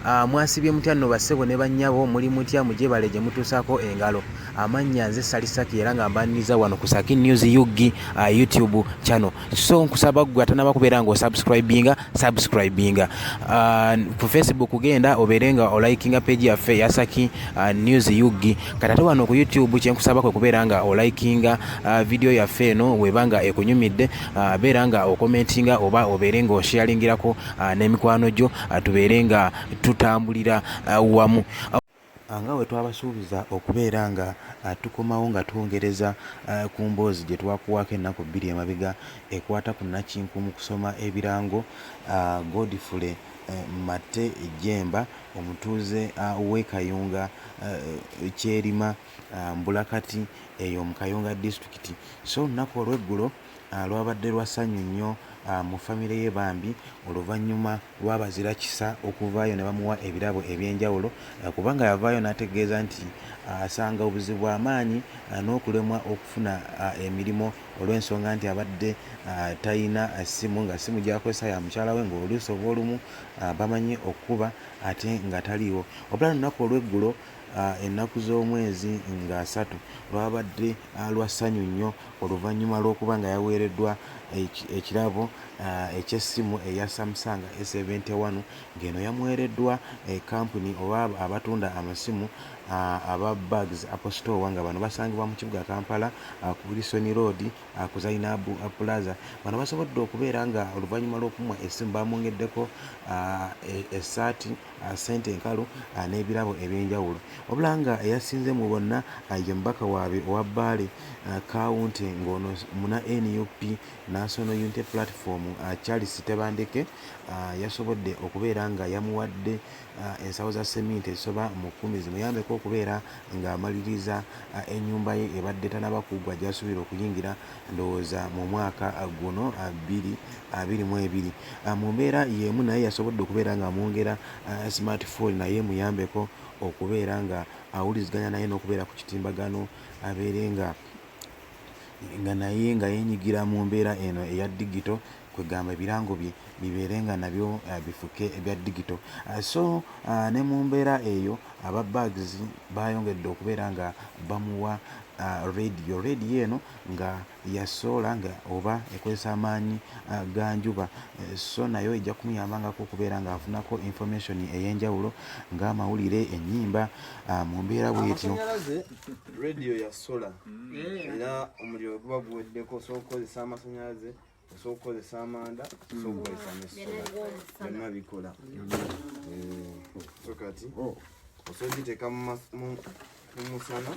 Ah, mwasibye mutya nno bassebo ne bannyabo muli mutya mugyebale gye mutuusaako engalo amannya nze sali saki era nga mbaniriza wano ku saki news ug ah, youtube channel so nkusaba ggwe atanaba kubeera nga osubscribinga subscribinga uh, ku facebook genda obeere nga olikinga page yaffe yasaki uh, news ug kati ate wano ku youtube kyenkusaba kwe kubeera nga olikinga uh, vidiyo yaffe eno weba nga ekunyumidde uh, beera nga okomentinga oba obeere nga oshealingirako uh, n'emikwano gyo uh, tubeere nga tutambulira uh, wamu uh, A Nga bwe twabasuubiza okubeera nga tukomawo nga twongereza ku mboozi gye twakuwaako ennaku bbiri emabega ekwata ku nnakinku mu kusoma ebirango, Godfrey Matte Jjemba omutuuze w'e Kayunga Kyerima mbulakati eyo mu Kayunga disitulikiti so olunaku olw'eggulo lwabadde lwa ssanyu nnyo mu famire ye bambi oluvannyuma lwabazira kisa okuvaayo ne bamuwa ebirabo eby'enjawulo kubanga yavaayo n'ategeeza nti asanga obuzibu bwa maanyi n'okulemwa okufuna emirimu olw'ensonga nti abadde talina ssimu nga ssimu gy'akozesa ya mukyala we ng'oluusi oba olumu bamanyi okukuba ate nga taliiwo wabula lunaku olw'eggulo ennaku z'omwezi nga asatu lwabadde lwa ssanyu nnyo oluvannyuma lw'okuba nga yaweereddwa ekirabo eky'essimu eya Samsung A seventy one ng'eno yamuweereddwa kkampuni oba abatunda amasimu aba Bags Apple Store nga bano basangibwa mu kibuga Kampala ku Wilson Road ku Zainab Plaza bano basobodde okubeera nga oluvannyuma lw'okumwa essimu baamwongeddeko essaati ssente enkalu n'ebirabo eby'enjawulo wabula nga eyasinze mu bonna ye mubaka waabwe owa Bbaale Kawunti ng'ono muna nup National Unity Platform Charles Tebandeke yasobodde okubeera nga yamuwadde ensawo za seminti ezisoba mu kkumi zimuyambeko okubeera ng'amaliriza ennyumba ye ebadde tanaba kuggwa gy'asuubira okuyingira ndowooza mu mwaka guno bbiri abiri mu ebiri mu mbeera y'emu naye yasobodde okubeera ng'amwongera smart phone naye emuyambeko okubeera nga awuliziganya naye n'okubeera ku kitimbagano abeere nga nga naye nga yenyigira mu mbeera eno eya digito kwegamba ebirango bye bibeere nga nabyo uh, bifuke ebya digital uh, so uh, ne mu mbeera eyo aba bags bayongedde okubeera nga bamuwa uh, radio radio eno nga yasoola nga oba ekozesa amaanyi uh, ga njuba uh, so nayo ejja kumuyambangako okubeera nga afunako information ey'enjawulo ng'amawulire ennyimba uh, mu mbeera bwetyo radio yasola mm. era omuliro guba guweddeko osobola okukozesa amasanyalaze osobola okukozesa amanda osobola okukozesa nesola byonna bikola eh, so kati oh. osobola okiteeka mumusana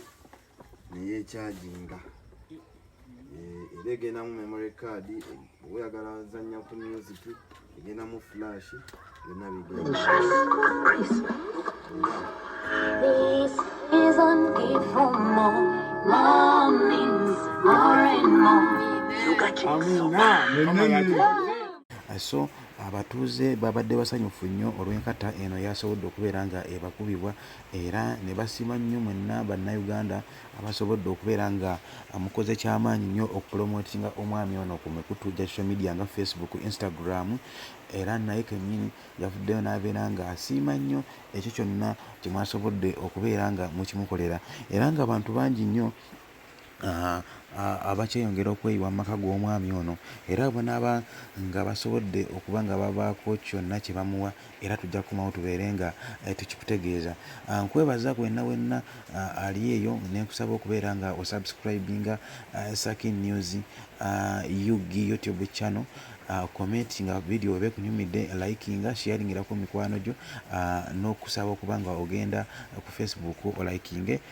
neyekyajinga eh, era egendamu memory card oyagala zanya ku music egenda mu flash byonna so abatuuze babadde basanyufu nnyo olw'enkata eno yasobodde okubeera nga ebakubibwa era ne basiima nnyo mwenna bannayuganda abasobodde okubeera nga mukoze kyamaanyi nnyo okupromotinga omwami ono ku mikutu gya social media nga facebook instagram era naye kennyini yavuddeyo n'abeera nga asiima nnyo ekyo kyonna kye mwasobodde okubeera nga mukimukolera era nga bantu bangi nnyo ah, abakyeyongera okweyiwa mu maka g'omwami ono era banaaba nga basobodde okuba nga babaako kyonna kye bamuwa era tujja kukomawo tubeere nga eh, tukikutegeeza ah, nkwebaza kwenna wenna ah, ali eyo nenkusaba okubeera nga osubscribinga ah, sakin news ug youtube channel comment nga video weba ekunyumidde likinga sharingirako mikwano gyo n'okusaba okuba nga ogenda ku facebook olikinge